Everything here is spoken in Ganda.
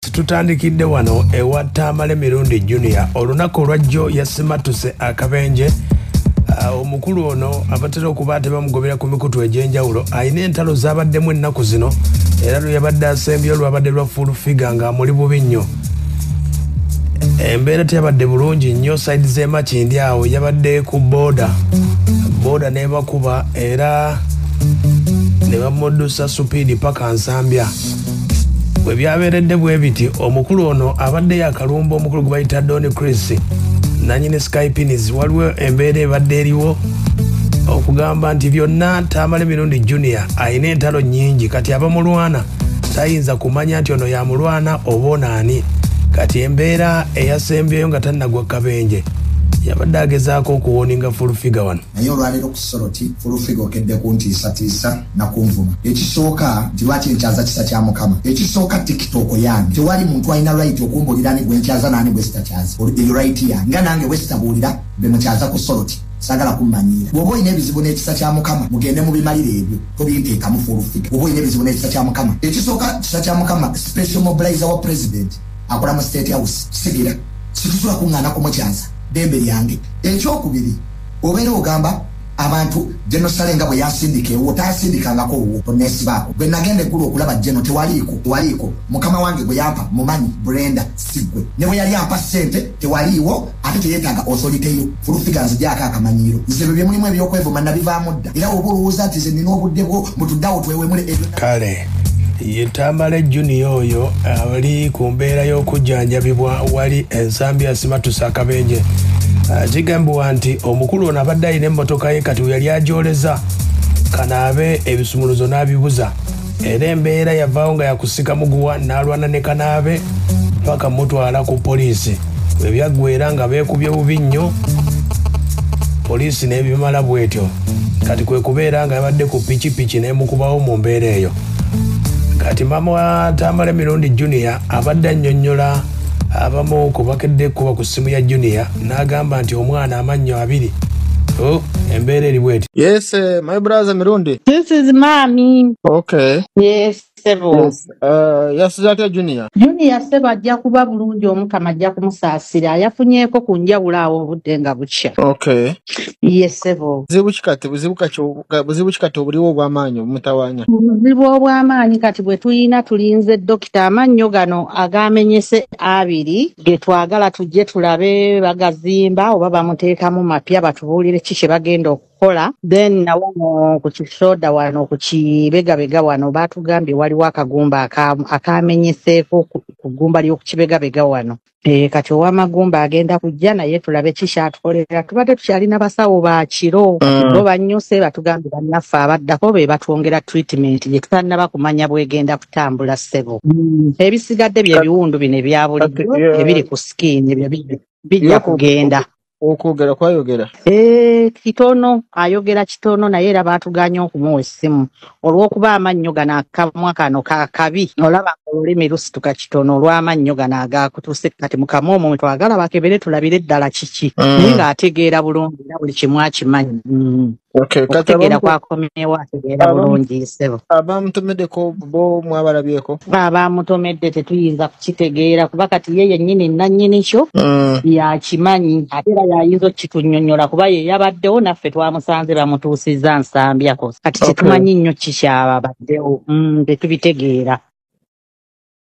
tutandikidde wano ewa tamale mirundi junior olunaku olwajjo yasimatuse akabenje ah, omukulu ono abatera okuba ate bamugobera ku mikutu egyenjawulo alina entalo zabaddemu ennaku zino era lweyabadde asembye olwabadde lwa full figa nga amuli bubi nnyo embeera teyabadde bulungi nnyo saidi zemakindi awo yabadde ku boda boda nebakuba era nebamudusa supiidi paka nsambya bwe byabeeredde bwe biti omukulu ono abadde yakalumba omukulu gwe bayita doni chris nanyini skypinis waliwo embeera ebadde eriwo okugamba nti byonna tamale mirundi junior alina entalo nyingi kati abamulwana tayinza kumanya nti ono yamulwana oba onaani kati embeera eyasembyeyo nga tannagwa kabenje yabadde agezaako okuwoninga fulfiga wano naye olwaleero ku soroti fulufiga okedde kuntiisatiisa nakunvuma ekisooka nti lwaki nkyaza kisa kya mukama ekisooka tiktok yange tewali muntu alina right okumbulira ni gwenkyaza naani gwesitakyaza eyo right yange nga nange bwesitabuulira bemukyaza ku soroti sagala kummanyiira bwoba olina ebizibu n'ekisa kya mukama mugende mu bimalire ebyo tobinteekamu fulufiga bwoba olina ebizibu n'ekisa kya mukama ekisooka kisa kya mukama special mobilizer wa president akola mu state house sigira situsobola kuŋŋaana kumukyaza dembe lyange ekyokubiri Obeera ogamba abantu General Saleh nga bwe yasindika ewuwo tayasindikangako owuwo onesibaako bwe nagenda eggulu okulaba General tewaliiko tewaliiko mukama wange gwe yampa mumanyi Brenda sigwe ne bwe yali ampa ssente tewaliiwo ate teyetaaga osoliteyo fulufiga nzigyako akamanyiiro nze bye bye mulimu ebyokwevuma nabivaamu dda era oba olowooza nti ze nina obudde bwo mutuddawo twewemule ebyo kale ye tamale junior oyo ali ku mbeera y'okujjanjabibwa wali ensambi asimatusa akabenje ah, kigambibwa nti omukulu ono abadde alina emmotoka ye kati weyali agyoleza kanaabe ebisumuluzo n'abibuza era embeera yavaawo nga yakusika muguwa n'alwana ne kanaabe paka mutwala ku poliisi bwe byaggwera nga beekubye bubi nnyo poliisi n'ebimala bwetyo kati kwe kubeera nga yabadde ku pikipiki n'emukubawo mu mbeera eyo kati maama wa tamale mirundi junior abadde annyonnyola abamu ku bakedde kuba ku ssimu ya junior n'agamba nti omwana amannyo abiri Oh, embeera eri bweti yes uh, my brother mirundi this is mami okay yes Sebo. Yes, uh, yasize atya Junior? Junior Seba ajja kuba bulungi omukama ajja kumusaasira yafunyeeko ku njawulo awo obudde nga bukya. Okay. Ye Sebo. Buzibu ki kati buzibu kati buzibu ki kati obuliwo obw'amaanyi obumutawaanya? Obuzibu obw'amaanyi kati bwe tulina tulinze dokita amannyo gano agaamenyese abiri ge twagala tujje tulabe bagazimba oba bamuteekamu mapya batubuulire ki kye bagenda oku kola then na wano ku kisoda wano ku kibegabega wano baatugambye waliwo akagumba aka- akaamenyeseeko ku ku ggumba ly'oku kibegabega wano Eh, kati ow'amagumba agenda kujja naye tulabe ki kyatukolera tubadde tukyalina basawo ba kiro kati bo Mm. bannyuse batugambye bannaffe abaddako be batwongera treatment gye tutannaba kumanya bwegenda kutambula ssebo Mm. ebisigadde bye Kati, biwundu bino ebya kati bulijjo ebiri yeah, ku skin ebyo bi- bijja yeah, ku, ku, kugenda okwogera kwayogera Eh, kitono ayogera kitono naye era baatuganye okumuwa essimu olw'okuba amannyo gano akamwa kano ka kabi olaba nga olulimi lusituka kitono olw'amannyo gano agaakutuse kati mu kamwa omwo mwe twagala bakebere tulabire ddala kiki naye Mm. ng'ategeera bulungi era buli kimu akimanyi Mm. Okay, kati okutegeera abamu kwakomyewo ategeera abamu bulungi ssebo abamutomedeko bo mwabalabyeko. kuba abaamutomedde tetuyinza kukitegeera kuba kati ye yennyini nnannyini kyo Mm. yakimanyi ate era yayinza okukitunnyonnyola kuba ye yabaddewo naffe twamusanze bamutuusizza nsambyako kati Okay. tetumanyi nnyo ki kyababaddewo mm, tetubitegeera